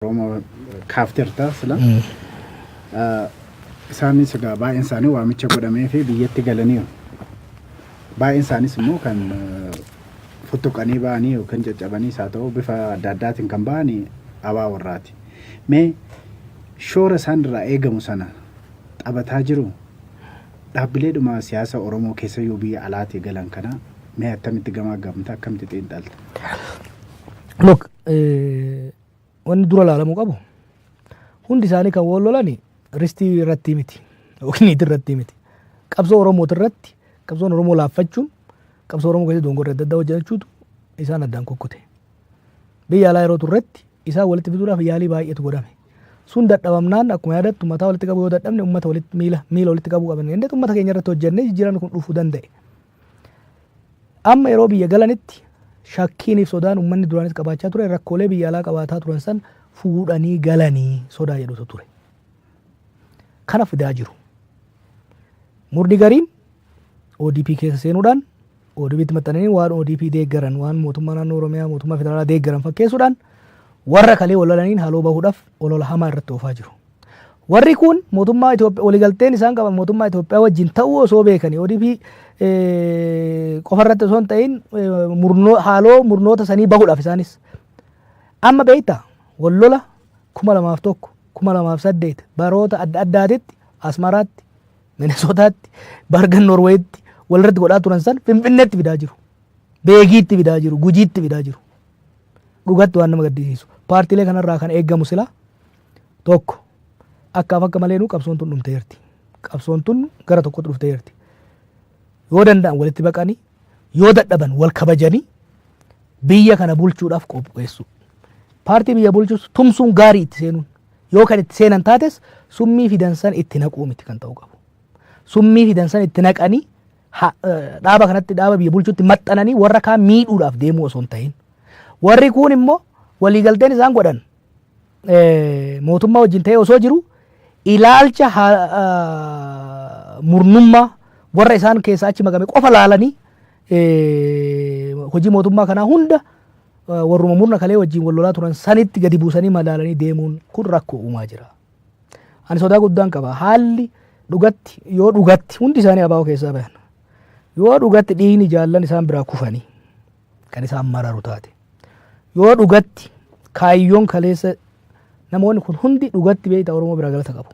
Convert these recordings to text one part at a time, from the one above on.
Oromoo kaafteerta sila. Isaanis egaa baay'een isaanii waamicha godhamee fi biyyatti galaniiru. Baay'een isaaniis immoo kan futtuqanii ba'anii yookiin caccabanii isaa ta'u bifa adda addaatiin kan ba'an abaa warraati. Mee shoora isaan irraa eegamu sana taphataa jiru dhaabbileedhuma siyaasa Oromoo keessa yoo biyya alaatii galan kana mee attamitti gamaa gamta akkamitti xiinxalta? Look, Wanni dura laalamuu qabu hundi isaanii kan wal lolani ristii irratti miti yookiin niitii irratti miti. Qabsoo Oromooti irratti qabsoon Oromoo laaffachuun qabsoo Oromoo keessatti dongorri adda addaa hojjechuutu isaan addaan kukkute. Biyya alaa yeroo turretti isaan walitti fiduudhaaf yaalii baay'eetu godhame. Sun dadhabamnaan akkuma yaadattu mataa walitti qabuu yoo dadhabne uummata walitti miila miila walitti qabuu qabna. Innis uummata keenya irratti hojjennee jijjiiramni kun dhufuu danda'e. Amma yeroo biyya galanitti shakkiiniif sodaan ummanni duraanis qabaachaa ture rakkoolee biyya alaa qabaataa turan san fuudhanii galanii sodaa jedhutu ture. Kana fidaa jiru. Murni gariin ODP keessa seenuudhaan ODPtti maxxananii waan ODP deeggaran waan mootummaa naannoo Oromiyaa mootummaa federaalaa deeggaran fakkeessuudhaan warra kalee walalaniin haloo bahuudhaaf olola hamaa irratti oofaa jiru. Warri kun mootummaa Itoophiyaa waligalteen isaan qaban mootummaa Itoophiyaa wajjin ta'uu osoo beekanii ODP qofarratti osoo hin ta'in haaloo murnoota sanii bahuudhaaf isaanis. Amma beektaa wal lola kuma lamaaf tokko kuma lamaaf saddeet baroota adda addaatitti Asmaraatti Minesootaatti Bargan Norweetti walirratti godhaa turan san Finfinneetti fidaa jiru. Beegiitti fidaa jiru. Gujiitti fidaa jiru. Dhugatti waan nama gaddisiisu. Paartiilee kanarraa kan eegamu silaa Tokko, akkaaf akka maleenuu qabsoon tun dhumteerti. Qabsoon tun gara tokkotti dhufteerti. Yoo danda'an walitti baqanii, yoo dadhaban wal kabajanii biyya kana bulchuudhaaf qopheessuu. Paartii biyya bulchus tumsuun gaarii itti seenuun. Yoo kan itti seenan taates summii fidan san itti naquu miti kan ta'uu qabu. Summii fidan san itti naqanii ha- eh, dhaaba kanatti dhaaba biyya bulchuutti maxxananii warra kaan miidhuudhaaf deemuu osoo hin ta'in. Warri kuun immoo waliigalteen isaan godhan mootummaa wajjin ta'ee osoo jiru ilaalcha murnummaa warra isaan keessaa achi makame qofa laalanii hojii mootummaa kanaa hunda warruma murna kalee wajjin wal lolaa turan sanitti gadi buusanii madaalanii deemuun kun rakkoo uumaa jira. Ani sodaa guddaan qaba. Haalli dhugatti yoo dhugatti hundi isaanii abaa'oo keessaa bahan yoo dhugatti dhiigni jaallan isaan biraa kufanii kan isaan mararu taate. Yoo dhugatti kaayyoon kaleessa namoonni kun hundi dhugatti beekta Oromoo biraa galata qabu.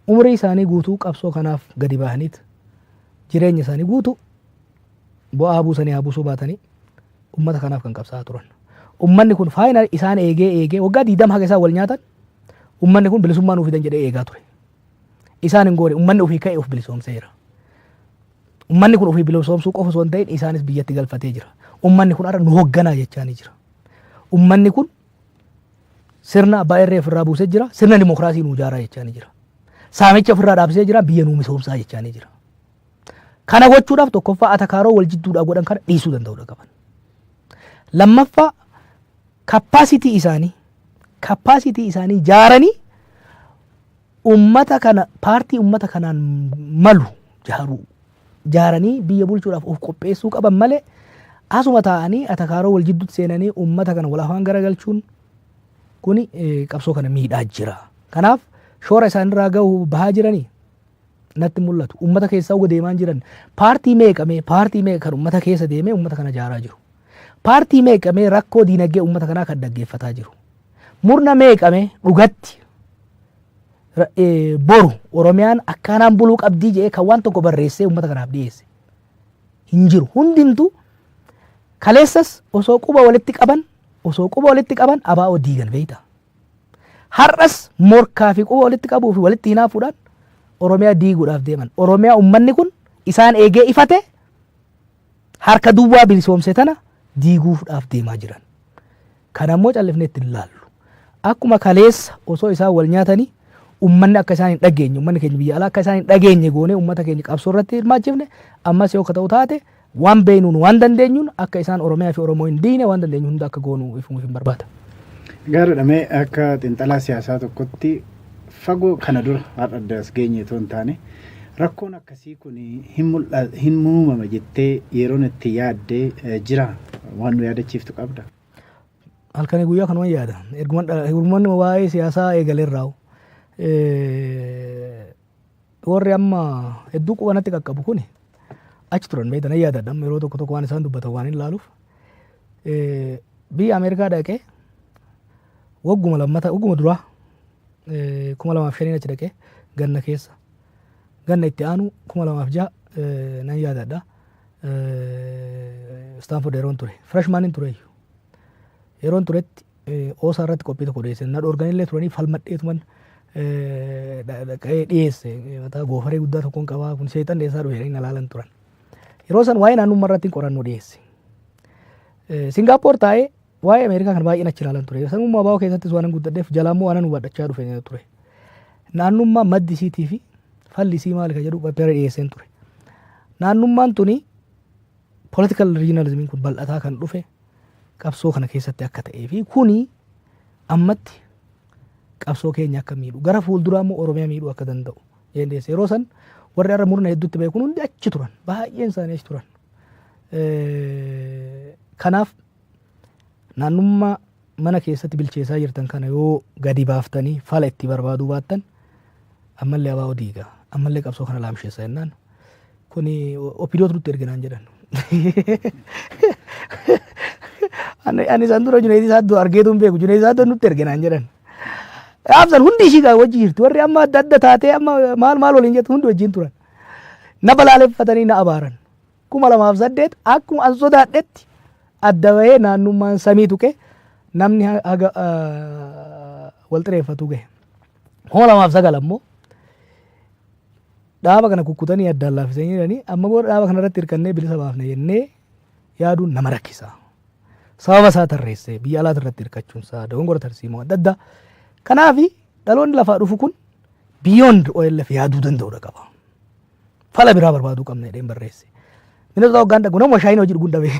Umrii isaanii guutuu qabsoo kanaaf gadi bahaniit jireenya isaanii guutuu bu'aa buusanii haa buusuu baatanii ummata kanaaf kan qabsaa'aa turan. Ummanni kun faayinal isaan eegee eegee waggaa diidam haga isaan wal nyaatan ummanni kun bilisummaa nuuf fidan jedhee eegaa ture. Isaan hin goone ummanni ofii ka'e of bilisoomseera. Ummanni kun ofii bilosoomsuu qofa osoo hin ta'in isaanis biyyatti galfatee jira. Ummanni kun har'a nu hogganaa jechaanii jira. Ummanni kun sirna abbaa irree ofirraa buusee jira. Sirna dimokiraasii nu ijaaraa jechaanii jira. Saamicha ofirraa dhaabsisee jira. Biyya nu misoomsaa jechaanii jira. Kana gochuudhaaf tokkoffaa atakaaroo wal jidduudhaa godhan kana dhiisuu danda'uudha qaban. Lammaffaa kappaasitii isaanii kappaasitii isaanii jaaranii Ummata kana paartii ummata kanaan malu jaaruu jaaranii biyya bulchuudhaaf of qopheessuu qaban malee asuma taa'anii atakaaroo wal jidduutti seenanii ummata kana wal afaan garagalchuun kuni qabsoo kana miidhaa jira. Kanaaf shoora isaanirraa gahu bahaa jiranii natti mul'atu. Ummata keessaa uga deemaan jiran paartii meeqa mee paartii meeqa kan ummata keessa deemee ummata kana jaaraa jiru. Paartii meeqa mee rakkoo diinagdee uummata kanaa kan dhaggeeffataa jiru? Murna meeqa mee dhugatti ra- eh, boru Oromiyaan akkaanaan buluu qabdii jedhee kan waan tokko barreessee uummata kanaaf dhiyeesse? Hin jiru. Hundumtuu kaleessas osoo quba walitti qaban osoo quba walitti qaban abaa'oo diigan beektaa? Har'as morkaa fi quba walitti qabuu fi walitti hinaafuudhaan Oromiyaa diiguudhaaf deeman. Oromiyaa uummanni kun isaan eegee ifate Harka duwwaa bilisoomse tana diiguufdhaaf deemaa jiran. Kana immoo callifnee itti hin laallu. Akkuma kaleessa osoo isaan wal nyaatanii ummanni akka isaan hin dhageenye, ummanni keenya biyya alaa akka isaan hin dhageenye goonee ummata keenya qabsoo irratti hirmaachifne, ammas yoo ka ta'u taate waan beeynuun waan dandeenyuun akka isaan Oromiyaa fi Oromoo hin diine waan dandeenyu hunda akka goonu ifuuf hin barbaada. Gaariidha mee akka xiinxalaa siyaasaa tokkotti fagoo kana dura har'a adda as geenye otoo hin taane rakkoon akkasii kun hin mul'a- hin muumama jettee yeroon itti yaadde eh, jira waan nu yaadachiiftu qabda. halkanii guyyaa kanuman yaada erguman dhala- erguman waa'ee siyaasaa eegalerraa Warri amma hedduu quba natti qaqqabu kuni achi turan beekta nan yaadadha amma yeroo tokko tokko waan isaan dubbatan waan hin laaluuf Eh, biyya Ameerikaa dhaqee wagguma lammata wagguma duraa eh, kuma lamaaf shaniin achi dhaqee ganna keessa ganna itti aanu kuma lamaaf ja'a eh, nan yaadadha Istaanford yeroon ture firashmaaniin ture iyyuu yeroon turetti oosaa irratti qophii tokko dhiyeesse na dhoorganillee turanii falmadheetuman dhaqee dhiyeesse mataa goofaree guddaa tokkoon qabaa kun seexan dhiyeessaa dhufe jedhanii na laalan turan. Yeroo san waa'ee naannummaa irratti qorannoo dhiyeesse. Singaappoor taa'ee waa'ee Ameerikaa kan baay'een achi ilaalan ture. Sanummaa baa'oo keessattis waanan guddadheef jalaammoo waanan hubadhachaa dhufe ture. Naannummaa maddi isiitii fi falli isii maali kan jedhu pappera dhiyeesseen ture. Naannummaan tuni Political regionalism kun bal'ataa kan dhufe qabsoo kana keessatti akka ta'ee fi kuni ammatti qabsoo keenya akka miidhu gara fuulduraa immoo Oromiyaa miidhuu akka danda'u dandeesse. Yeroo san warri har'a murna hedduutti ba'e kun hundi achi turan baay'een isaanii achi turan. Kanaaf naannummaa mana keessatti bilcheessaa jirtan kana yoo gadi baaftanii fala itti barbaaduu baattan ammallee abaa'oo diiga ammallee qabsoo kana laamsheessa jennaan kuni opidootu nutti erginaan jedhan. Ani ani isaan dura Junayd Saaddoo argeetu hin beeku Junayd Saaddoo nutti erginaan jedhan. Absan hundi ishii gaa wajji jirti warri amma adda adda taatee amma maal maal waliin jettu hundi wajjin turan. Na balaaleffatanii na abaaran. 2008 akkuma an sodaadhetti adda bahee naannummaan samii tuqe namni ha- haga ah, wal xireeffatu gahe. 2009 ammoo dhaaba kana kukkutanii addaan laaffisanii jiranii amma booda dhaaba kana irratti hirkannee bilisa baafna jennee yaaduun nama rakkisa. Sababa isaa tarreessee biyya alaati irratti hirkachuun isaa dogongora tarsiimoo adda addaa. Kanaaf dhaloonni lafaa dhufu kun beyond OLF yaaduu danda'udha qaba. fala biraa barbaaduu qabna jedheen barreesse. Minnesota hoggaan dhaqu nama shaayiin hojii dhuguun dhabe.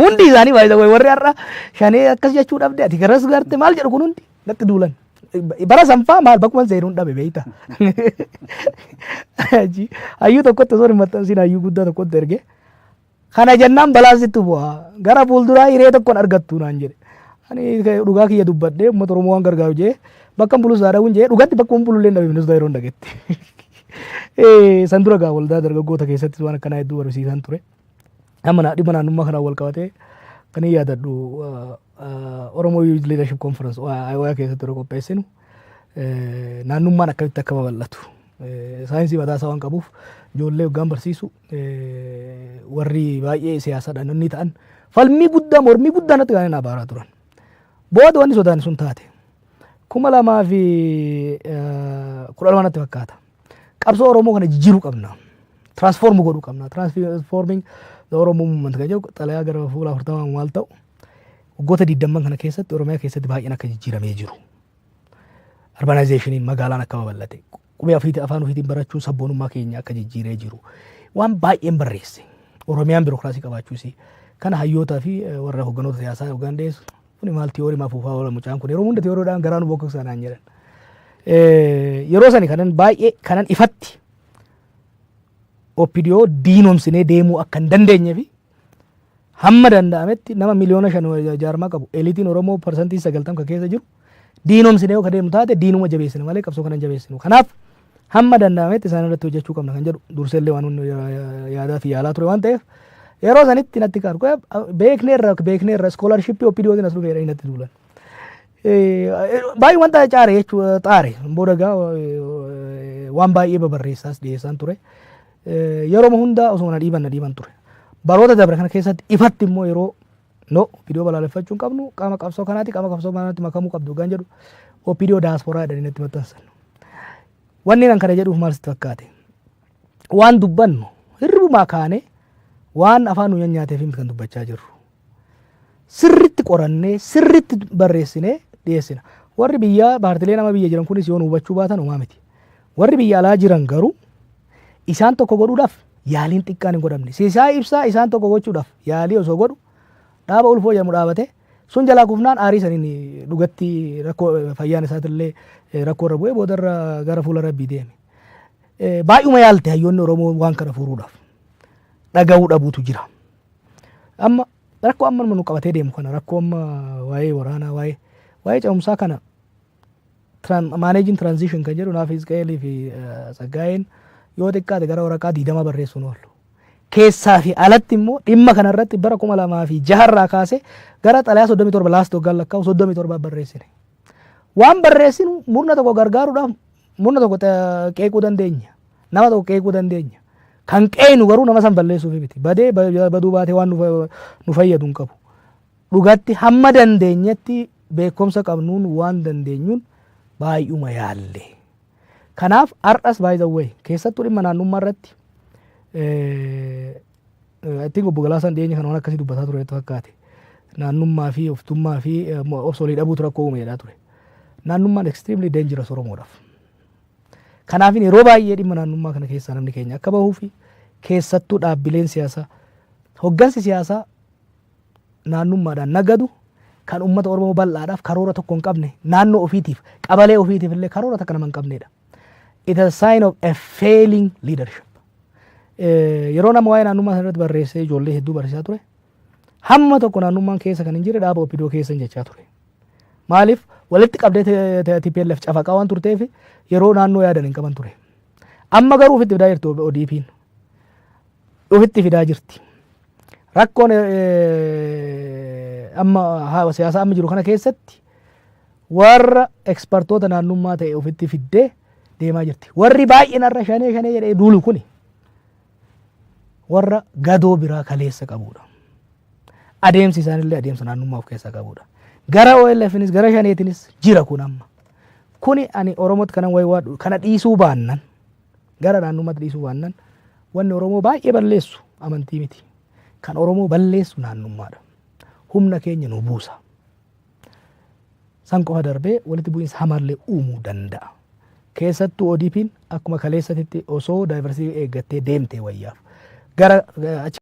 Hundi isaanii baay'isa wayi warri har'a shanee akkas jechuu dhabde ati garas garte maal jedhu kun hundi natti duulan. Bara sanfaa maal bakkuma seenuun dhabe beeyta. Hayyuu tokkotti osoo hin maxxansiin hayyuu guddaa tokkotti erge. Kana jennaan balaan sitti bu'a. Gara fuulduraa hiree tokko hin argattu naan jedhe. Ani dhugaa kiyya dubbadhee uummata Oromoo waan gargaaru jedhee bakka hin bulus dhabuun jedhee dhugatti bakka hin bulullee hin dhabe ministeera yeroo hin dhagetti. San dura gaa waldaa dargaggoota keessatti waan akkanaa hedduu barsiisan ture. Amma naa- dhimma naannummaa kanaan wal qabatee kan hin yaadadhu ah, ah, Oromoo Youth Leadership Conference OIA keessatti yeroo qopheessinu eh, naannummaan akkamitti akka babal'atu eh, saayinsii mataa isaa waan qabuuf ijoollee hoggaan barsiisu warri baay'ee siyaasadha namni ta'an falmii guddaa mormii guddaa natti kan abaaraa turan. Booda wanni sodaan sun taate kuma lamaa fi kudha lama natti fakkaata. Qabsoo Oromoo kana jijjiiruu qabna. Transform godhuu qabna. Transforming the Oromo movement kan jedhu xalayaa gara fuula afurtamaa maal ta'u waggoota digdamman kana keessatti Oromiyaa keessatti baay'een akka jijjiiramee jiru. Urbanizationiin magaalaan akka babal'ate Qubee afiitii afaan ofiitiin barachuun sabboonummaa keenya akka jijjiiree jiru. Waan baay'een barreesse. Oromiyaan birookiraasii qabaachuu isii. Kana hayyootaa fi eh, warra hogganoota siyaasaa yookaan dhiyeessu. Kuni maal tiyoorii maaf uufaa oola mucaan kun yeroo hunda tiyooriidhaan garaa nu bokkoksaa naan jedhan. Eh, Yeroo sani kanan baay'ee kanan ifatti OPDO diinomsinee deemuu akka hin dandeenye fi Hamma danda'ametti nama miliyoona 5 ol jaarmaa qabu eliitiin Oromoo parsantiin 90 ka keessa jiru diinomsine yoo ka deemnu taate diinuma jabeessina malee qabsoo kana hin jabeessinu. Kanaaf hamma danda'ametti isaan irratti hojjechuu qabna kan jedhu durseellee waan hundi yaadaa fi yaalaa ture waan ta'eef yeroo sanitti natti kan beekneerra beekneerra iskoolarshippii OPDOtiin as dhufeera natti duulan. Baay'ee wanta caare jechuudha xaare booda gaa waan baay'ee babarreessaas dhiyeessaan ture. Yeroma hunda osuma na dhiiban na dhiiban ture. Baroota dabre kana keessatti ifatti immoo yeroo no OPDO balaaleffachuu hin qabnu qaama qabsoo kanaati qaama qabsoo kanaatti makamuu qabdu hoggaan jedhu OPDO daasporaa jedhanii natti maxxansan. Wanni nan kana jedhuuf maal sitti fakkaate? Waan dubbannu hirribumaa kaanee waan afaan nu nyaateef miti kan dubbachaa jirru. sirritti qorannee sirritti barreessinee dhiyeessina. Warri biyyaa paartileen amma biyya jiran kunis yoo nu hubachuu baatan homaa miti. Warri biyya alaa jiran garuu isaan tokko godhuudhaaf yaaliin xiqqaan hin godhamne. Sisaa ibsaa isaan tokko gochuudhaaf yaalii osoo godhu dhaaba ulfoo jedhamu dhaabate sun jalaa kufnaan aarii saniin dhugatti rakkoo fayyaan isaatillee rakkoo irra bu'ee boodarra gara fuula rabbii deeme. Baay'uma yaalte hayyoonni Oromoo waan kana furuudhaaf dhaga'uu dhabuutu jira. Amma rakkoo amma nu qabatee deemu kana rakkoo amma waa'ee waraanaa waa'ee waa'ee ce'umsaa kana maaneejiin tiraanzishin kan jedhu naaf Hizqa'eelii fi Tsaggaayeen yoo xiqqaate gara waraqaa diidamaa barreessuun oolu. Keessaa fi alatti immoo dhimma kana irratti bara kuma lamaa fi jaharraa kaasee gara xalayaa soddomii torba laast waggaan lakkaa'u soddomii torbaa barreessine. Waan barreessinu murna tokko gargaaruudhaaf murna tokko qeequu dandeenya. Nama tokko qeequu dandeenya. Kan qeeynu garuu nama san balleessuufi miti. Badee baduu baatee waan nu fayyadu hin qabu. Dhugatti hamma dandeenyetti beekomsa qabnuun waan dandeenyuun baay'uma yaalle. Kanaaf har'as by the way keessattuu dhimma naannummaa irratti I think obbo Galaasaan dhiyeenya kana waan akkasii dubbataa ture fakkaate. Naannummaa fi oftummaa fi obsolii dhabuutu rakkoo uume jedhaa ture. Naannummaan extremely dangerous Oromoodhaaf. Kanaafin yeroo baay'ee dhimma naannummaa kana keessaa namni keenya akka bahuufi keessattuu dhaabbileen siyaasaa hoggansi siyaasaa naannummaadhaan nagadu kan ummata Oromoo bal'aadhaaf karoora tokko hin qabne naannoo ofiitiif qabalee ofiitiif illee karoora takka nama hin qabneedha. It is a sign of a failing leadership. Yeroo nama waa'ee naannummaa sana irratti barreessee ijoollee hedduu barsiisaa ture hamma tokko naannummaan keessa kan hin jirre dhaaba opidoo keessa hin jechaa ture. Maaliif walitti qabdee te- te- TPLF cafaqaa waan turteef yeroo naannoo yaadan hin qaban ture. Amma garuu ofitti fidaa jirti ODP'n. Ofitti fidaa jirti. Rakkoon eh, amma haa- siyaasa amma jiru kana keessatti warra ekspertoota naannummaa ta'e ofitti fiddee deemaa jirti. Warri baay'een har'a shanee shanee jedhee duulu kuni warra gadoo biraa kaleessa qabuudha. Adeemsi isaanillee adeemsa naannummaa of keessaa qabuudha. Gara OLFnis gara shaneetinis jira kun amma. Kuni ani Oromootti kanan waywaadhu kana dhiisuu baannan gara naannummaatti dhiisuu baannan wanni Oromoo baay'ee balleessu amantii miti. Kan Oromoo balleessu naannummaadha. Humna keenya nu buusa. San qofa darbee walitti bu'iinsa hamaallee uumuu danda'a. Keessattuu ODPn akkuma kaleessatitti osoo diversity eeggattee deemtee wayyaaf. Gara